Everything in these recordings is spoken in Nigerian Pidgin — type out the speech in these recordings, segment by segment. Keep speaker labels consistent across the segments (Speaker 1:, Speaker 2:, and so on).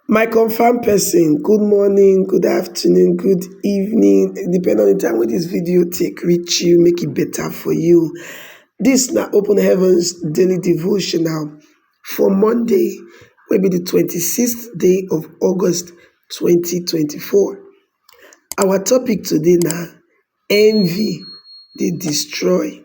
Speaker 1: My confirm person, good morning, good afternoon, good evening, depend on the time wey this video take reach you, make it e better for you. This na Open Heavens Daily Devotional for Monday, wey be the twenty sixth day of August twenty twenty four. Our topic today na envy dey destroy.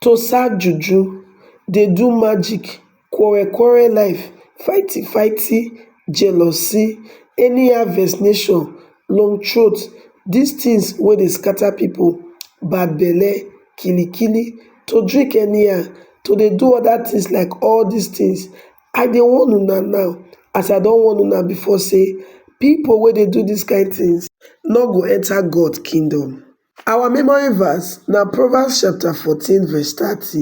Speaker 1: tosa juju dey do magic quarrel quarrel life fighty fighty jealousy any harvest nation long throat these things wey dey scatter people bad belle kili kili to drink anyhow to dey do other things like all these things i dey warn una now as i don warn una before say people wey dey do these kind things no go enter God kingdom. Our memory verse na Proverbs chapter fourteen verse thirty,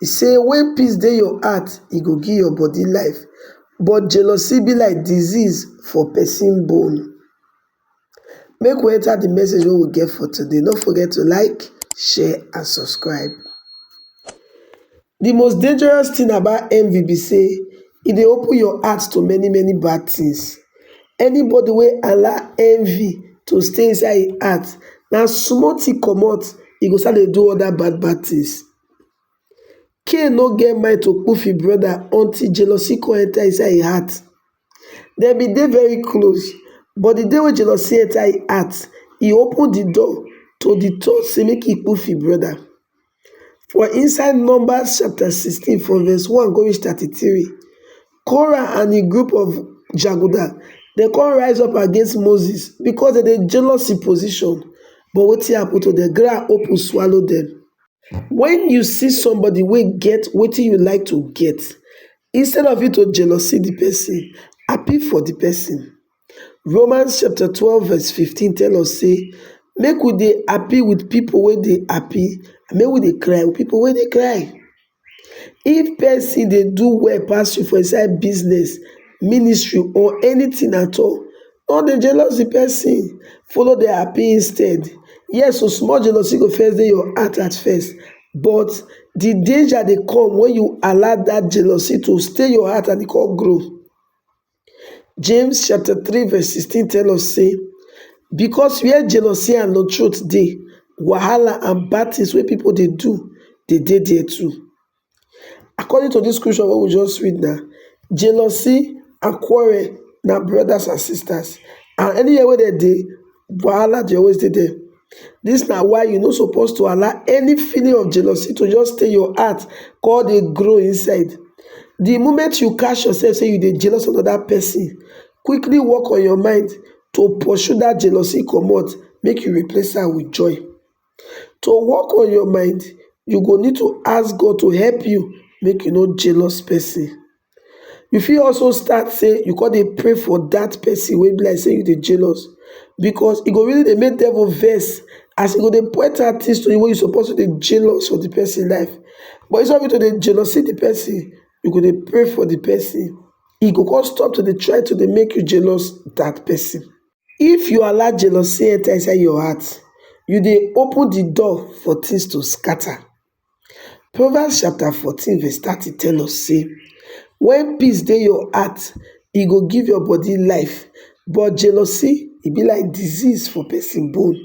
Speaker 1: e say "When peace dey your heart, e go give your body life, but jealousy be like disease for person bone." Make we enter the message wey we get for today, no forget to like, share and subscribe. The most dangerous thing about envy be say e dey open your heart to many many bad things. Anybody wey allow envy to stay inside im heart, na small thing comot e go start dey do other bad bad things. Cain no get mind to kpoof im brother until jealousy come enter inside im heart. dem bin dey very close but di day wey jealousy enta im heart e open di door to di thought say make e kpu fi brother for inside Numbers chapter sixteen from verse one go reach thirty three Korah and im group of jaguda dem kon rise up against Moses because dem dey jealous im position but wetin happen to dem ground open swallow dem. When you see somebody wey get wetin you like to get, instead of you to jealousy the person, happy for the person. Romans chapter 12 verse 15 tell us say make we dey happy with people wey dey happy and make we dey cry with people wey dey cry. If person dey do well pass you for inside business, ministry or anything at all, No dey jealous the person, follow dey happy instead. Yes, so small jealousy go first dey your heart at first, but the danger dey come when you allow that jealousy to stay your heart and e come grow. James chapter 3 verse 16 tell us say, because where jealousy and no truth dey, wahala and bad things wey people dey do dey dey there too. According to this scripture wey we just read now, jealousy and quarrel na brothers and sisters and anywhere wey dem dey, wahala dey always dey there. This na why you no suppose to allow any feeling of jealousy to just stay your heart come dey grow inside. The moment you catch yourself say you dey jealous of another person, quickly work on your mind to pursue that jealousy comot, make you replace am with joy. to work on your mind you go need to ask God to help you make you no jealous person you fit also start say you go dey pray for that person wey be like say you dey jealous because e go really dey make devil vex as e go dey point out things to you wey you suppose to dey jealous for the person life but instead of you to dey jealousy the person you go dey pray for the person e go come stop to dey try to dey make you jealous that person If you allow jealousy enter inside your heart, you dey open the door for things to scatter. Proverbs chapter 14 verse 30 tell us say, when peace dey your heart, e go give your body life, but jealousy e be like disease for person bone.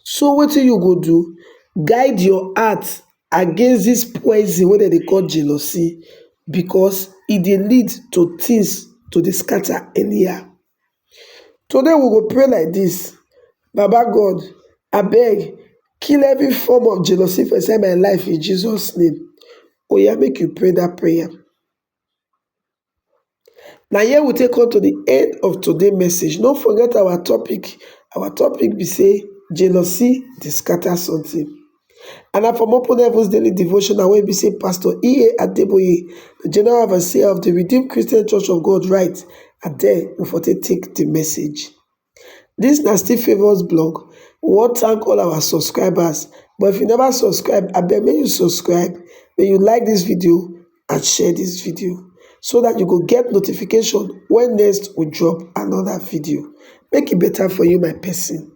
Speaker 1: So wetin you go do, guide your heart against this poison wey dem dey call jealousy because e dey lead to things to dey scatter anyhow. Today we go pray like this, baba God abeg kill every form of jealousy for inside my life in Jesus name, oya make you pray that prayer. Na here we take come to the end of today message. No forget our topic. Our topic be say jealousy dey scatter something. And na from Open Heavens Daily Devotional wey be say Pastor E.A. Adeboye, the General Overseer of the Redeemed Christian Church of God, write. And then we for take take the message. This na still favours blog, we wan thank all our subscribers but if you never subscribe abeg make you subscribe, make you like this video and share this video so that you go get notification when next we drop another video. Make e better for you my person.